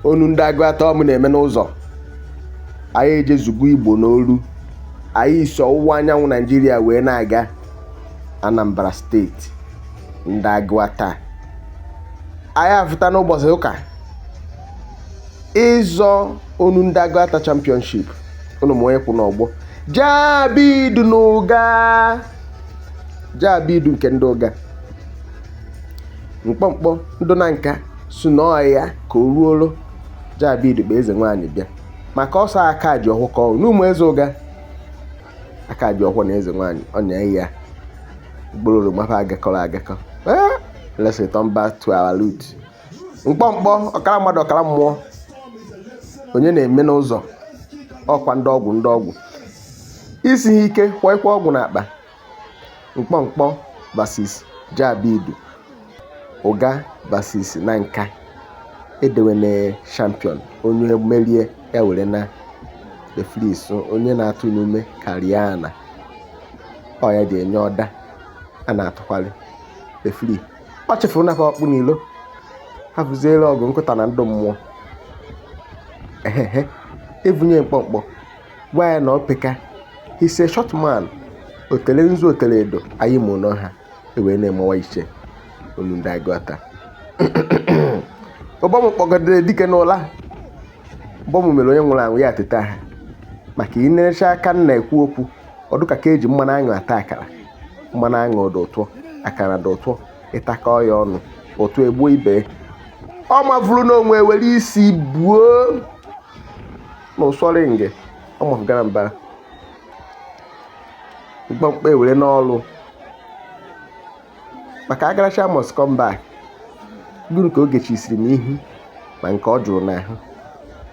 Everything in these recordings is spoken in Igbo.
onu ndị agụata ọ mụ na-eme n'ụzọ anyị ejezugo igbo n'olu anyị si ọwụwa anyanwụ naijiria wee na-aga anambra steeti ndị agụata anyị afụta n'ụbọchị ụka ịzọ onu ndị agụata championship ụnụ ma onye kwụ n'ọgbọ jabidu n'ụga jabidu nke ndị ụga mkpọmkpọ ndụ Nanka sị na ọọ ya ka o ruoro Jabidu kpụ eze nwaanyị bịa maka ọsọ aka ji ọkụ ka ọ n'ụmụ eze ụga aka ji ọkụ na eze nwaanyị ọ na ya mkpụrụ oroma fa agakọrọ agakọ eh, let's return back to our root mkpọmkpọ ọkara mmadụ ọkara mmụọ onye na-eme n'ụzọ ọkwa ndị ọgwụ ndị ọgwụ isi ike kwọ ikwe ọgwụ n'akpa Mkpọmkpọ vs Jabidu, Ụga vs Nanka, edewena champion onye merie ya were na referee sụ onye na-atụ n'ume karịa na ọ ya ji enye order a na-atụkwalị referee ọ chefuru nafa ọkpụ n'ilo ha bụziere ọgụ nkụta na ndụ mmụọ ehehe evunye mkpọmkpọ gwa ya na o peka he's a short man o tele nzu o tele edo anyị ma ụlọ ha ewee na-emewa iche olu ndị agụata ụbọ mụ kpọgidere dike n'ụla ụbọ mụ mere onye nwụrụ anwụ ya ateta ha maka inerecha aka nna ekwu okwu ọ dụka ka eji mmanụ aṅụ ata akara mmanụ aṅụ dị ụtọ akara dị ụtọ ị takọ ya ọnụ ụtọ egbuo ibe ya. ọ mavuru n'onwe were isi buo na ụsọrị nge ọmụfụgara mba mkpọmkpọ ewere n'ọrụ maka agaracha must come back gịnị ka ọ ga-echisiri m ihu ma nke o juru n'ahụ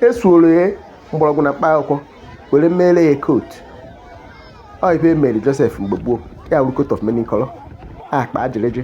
esuoro ya mgbọrọgwụ na mkpa akwụkwọ were mere ya coat ọ ife mere Joseph mgbe gboo ya wuru coat of many color akpa ajịrịjị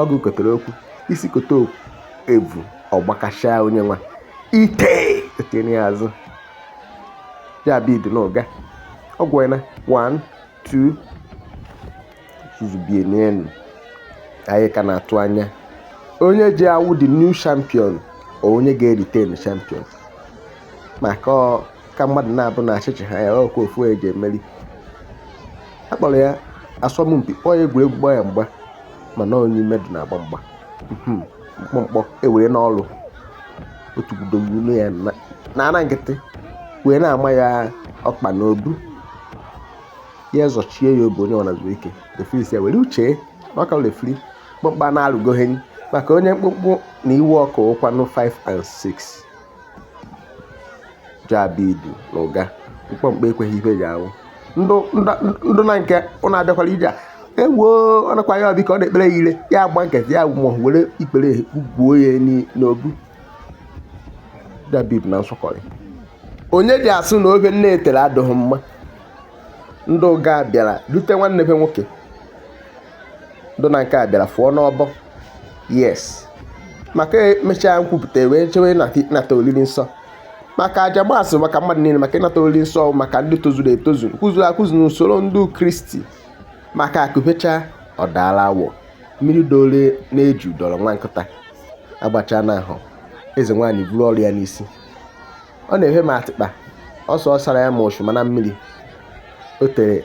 ọgụ kotara okwu isi kote evu ọ gbakashaa onye nwa ite etinye ya azụ Jabidu n'ụga ọ gụọna 1 2 zuzubie n'elu anyị ka na-atụ anya onye ji awụ the new champion onye ga-eretain champion maka ka mmadụ na-abụ na achịchị ha ya ọ kwa ofu e ji emeri a kpọrọ ya asọmpi kpọọ ya egwuregwu gbaa ya mgba mana onye ime dị na-agba mgba hmm, mkpọmkpọ ewere n'ọrụ otu gudogburu ya n'ana nkịtị wee na-ama ya ọkpa n'obu ya zọchie ya obu onye ọ na-azụ ike refiri sị ya were uche na ọ ka refiri mkpọmkpọ na-arụgoghị maka onye mkpụmkpụ na iwe ọkụ ụkwanụ 5 and 6 Jabidu na ụga mkpọmkpọ ekweghị ife ji awụ ndụ na nke ọ na-abịakwara ije a ewo ọ nakwa ya ọbịka ọ na-ekpere ya ire ya agba nkịtị ya ma were ikpere gbuo ya n'obu Jabidu na nsọkọrị onye ji asụ na ofe nne tere adịghị mma ndị ụga bịara dute nwanne be nwoke ndụ na nke a bịara fụọ n'ọgbọ yes maka emechaa nkwupụta wee chewe ịnata oriri nsọ maka aja maasị maka mmadụ niile maka ịnata oriri nsọ maka ndị tozuru etozu kwụzuru akwụzu n'usoro ndị kristi maka akụbecha ọdala awọ mmiri dole na-eju dọrọ nwa nkịta agbacha n'ahụ eze nwaanyị buru ọrụ ya n'isi ọ na-efe m atịkpa ọsọ ọ sara ya ma ọchụ mana mmiri o tere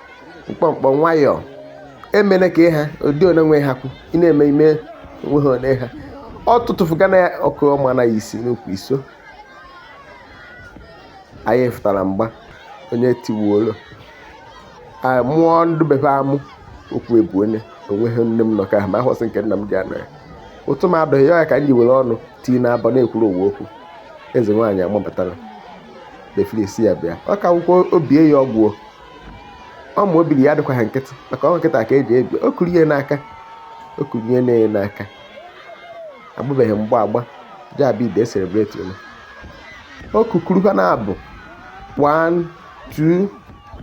mkpọmkpọ nwayọọ emene ka ịha ụdị one nwe ha kwu ị na-eme ime onwe ha one ha ọ tụtụfuga na ọkụ ọma na isi n'ukwu iso anyị fụtara mgba onye tiwuolo mụọ ndụ befe amụ okwu ebu onye onweghị nne m nọ ka ma ahụsị nke nna m ji anọ ya ụtụ m adụghị ya ka m ji were ọnụ tii na abọ na-ekwuru owu okwu eze nwaanyị amapụtara befere isi ya bịa ọ ka akwụkwọ obie ya ọgwụ ọ ma obiri ya adịkwa ha nkịtị maka ọ nkịta ka eji ebi o kuru ihe n'aka o kuru ihe na-enye n'aka agbabeghị mgba agba Jabidu ecelebrate unu o kukuru ha na-abụ 1 2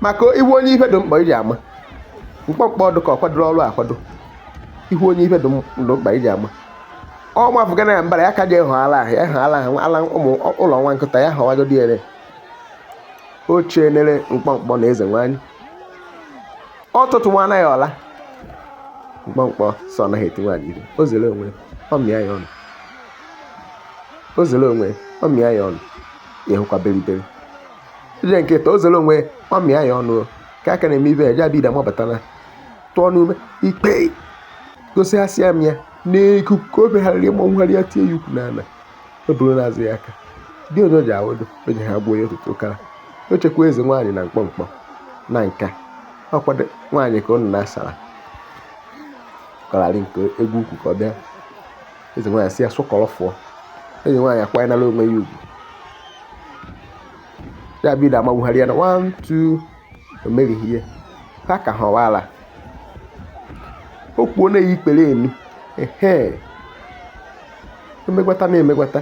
maka ịhụ onye ife dị mkpa iji ama mkpọmkpọ ọ dị ka ọ kwadoro ọrụ akwado ịhụ onye ife dị mkpa iji ama ọ mafụga na ya mbara ya ka ji ehụ ala ahụ ya ehụ ala ahụ ala ụmụ ụlọ nwa nkịta ya họwagodi ere ochie nere mkpọmkpọ na eze nwanyị ọ tụtụwana ya ọla mkpọmkpọ sị anaghị eti nwaanyị ihe o zere onwe ọ mịa ya ọnụ o zere onwe ọ mịa ya ọnụ ya hụkwa beriberi ije nkịta o zere onwe ọ mịa ya ọnụ ka aka na-eme ibe ya Jabidu amabatana tụọ n'ume ikpe gosighasịa m ya n'ikuku ka o begharịrị ịmọnwụgharị ya tie ya ukwu n'ala o buru n'azụ ya aka dị onye o ji awụdụ o ji ha gbuo ya otutu ụkara o chekwa eze nwaanyị na mkpọmkpọ na nka ọkwado nwaanyị ka ụnụ na-asara kọrarị nke egwu ukwu ka ọ bịa eze nwaanyị si ya sụkọrọ fụọ eze nwaanyị akwanyela onwe ya ugwu jabid amagbugharị ya na 1 2 o meghị ihe ha ka ha ọwaala o kwuo na-eyi ikpere enu ehe emegwata na-emegwata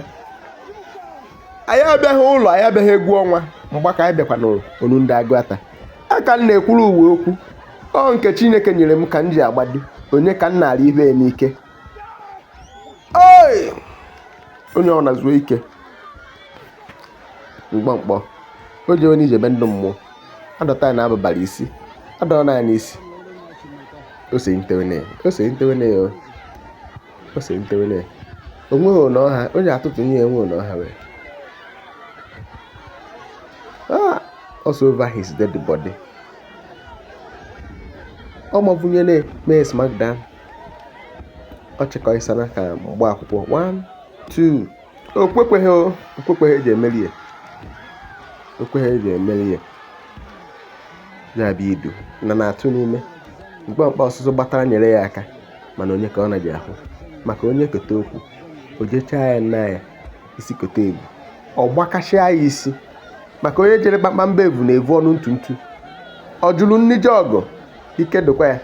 anyị abịaghị ụlọ anyị abịaghị egwu ọnwa mgba ka anyị bịakwa n'olu ndị agụata ka m na-ekwuru uwe okwu ọ nke chineke nyere m ka m ji agbado onye ka m na-arị ibe ya n'ike onye ọ na-zuo ike mkpọmkpọ o ji onye ije ebe ndị mmụọ adọta ya n'abụbara isi adọrọ na ya n'isi ose ntewene ose ntewene ose ntewene onweghị ụlọ ọha onye atụtụ nye enwe ụlọ ọha wee ah, ọ sị over his dead body ọ mabunyere mee smackdown ọ chịkọisana ka mgba akwụkwọ 1 2 okwekweghị okwekweghị eji emeri ya okwekweghị eji emeri ya jabid na na-atụ n'ime mkpọmkpọ ọsụsọ gbatara nyere ya aka mana onye ka ọ na-eji ahụ maka onye kote okwu o jechaa ya nna ya isi kote evu ọ gbakasịa ya isi maka onye jere kpakpamba evu na-evu ọnụ ntu ntu ọ jụrụ nni je ọgụ ike dịkwa ya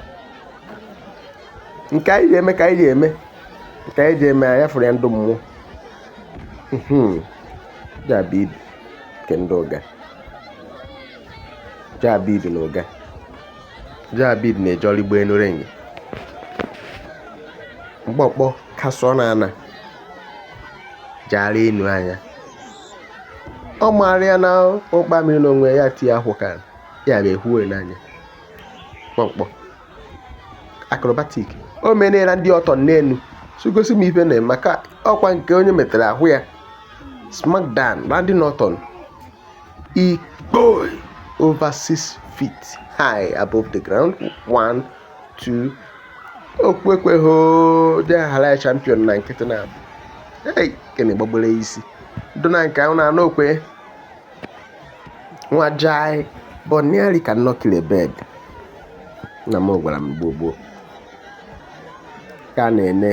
nke anyị ga-eme ka anyị ga-eme nke anyị ga-eme anya fụrụ ya ndị mmụọ jabid nke ndị ụga jabid na ụga jabid na-eje ọrụ igbo enu renyi mkpọmkpọ kasụọ n'ana jaara enu anya ọ maara ya na ụkpa mmiri n'onwe ya tie akwụ ka ya na-ehuwe n'anya kpọmkpọ acrobatic o mene randy orton n'enu sị gosi m ife na-eme maka ọkwa nke onye metere ahụ ya smackdown randy orton ikpo over 6 feet high above the ground 1 2 okwekweho dị aghara ya champion na nkịtị na abụ hey kene gbagbere isi dona nke ahụ na anụ okwe nwa jai but nearly cannot kill a bird na m gwara m gboo gboo ka a na-ene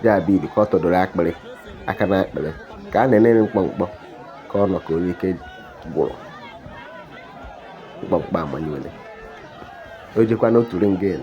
jabid ka ọ tọdoro akpịrị aka na akpịrị ka a na-ene mkpọmkpọ ka ọ nọ ka onye ike gwụrụ mkpọmkpọ amanyere o jekwa n'otu ringin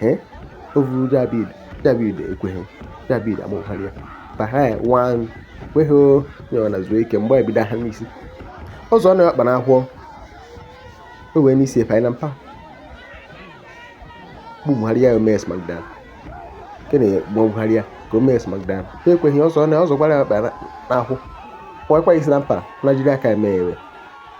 Eh? O vuru Jabid, Jabid ekweghị, Jabid amụgharị ya. Bahai wan kweghị onye na zuo ike mgbe ebido ha n'isi. Ọzọ na ọkpa n'ahụ o wee n'isi efe na mpa. Bugharị ya o mee smackdown. Kene bugharị ya ka o mee smackdown. Ha ekweghị ọzọ na ọzọ gbara ya ọkpa n'ahụ. Kpọkwa isi na mpa na jiri aka eme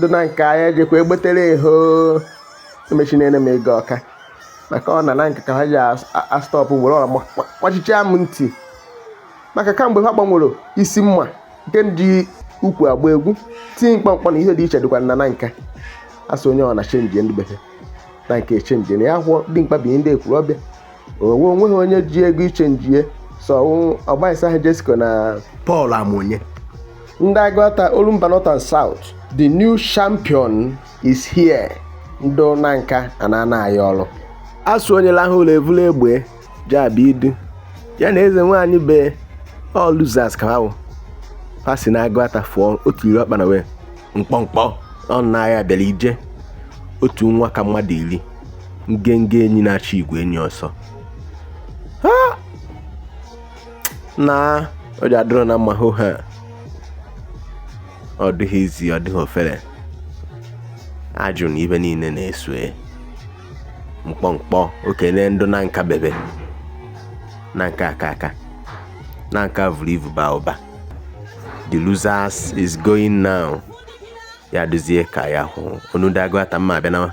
dị na nke anyị ejekwa egbetere eho emechinere m ego ọka maka ọ na na nke ka ha ji astọpụ were ọra gbachicha m ntị maka kamgbe ha gbanwere isi mma nke ndị ukwu agba egwu tinye mkpọmkpọ na ihe dị iche dịkwa na nka asị onye ọ na chenji ndị bekee na nke chenji na ya hụọ dị mkpa bụ ihe ndị ekwuru ọbịa owe onweghị onye ji ego ichenjie so ọgbaisa ha Jessica na Paul Amonye ndị Agụata Olumba North and South the new champion is here ndụ na nka a na-ana aya ọrụ asụ onye lahụ ụlọ evula egbe Jabid ya na eze nwaanyị be all losers ka ha wụ ha si na Agụata fụọ otu iri ọkpa na wee mkpọmkpọ ọ na-aya bịara ije otu nwa ka mmadụ iri ngenge enyi na-achị igwe enyi ọsọ na ọ ji adịrọ na mma hụ ha ọ dịghị easy ọ dịghị ofere ajụ na ihe niile na-esue mkpọmkpọ okene ndụ na nka bebe na nka aka aka na nka vuru ivu baa ụba the losers is going now ya duzie ka ya hụ onu ndị Agụata mma abịa nawa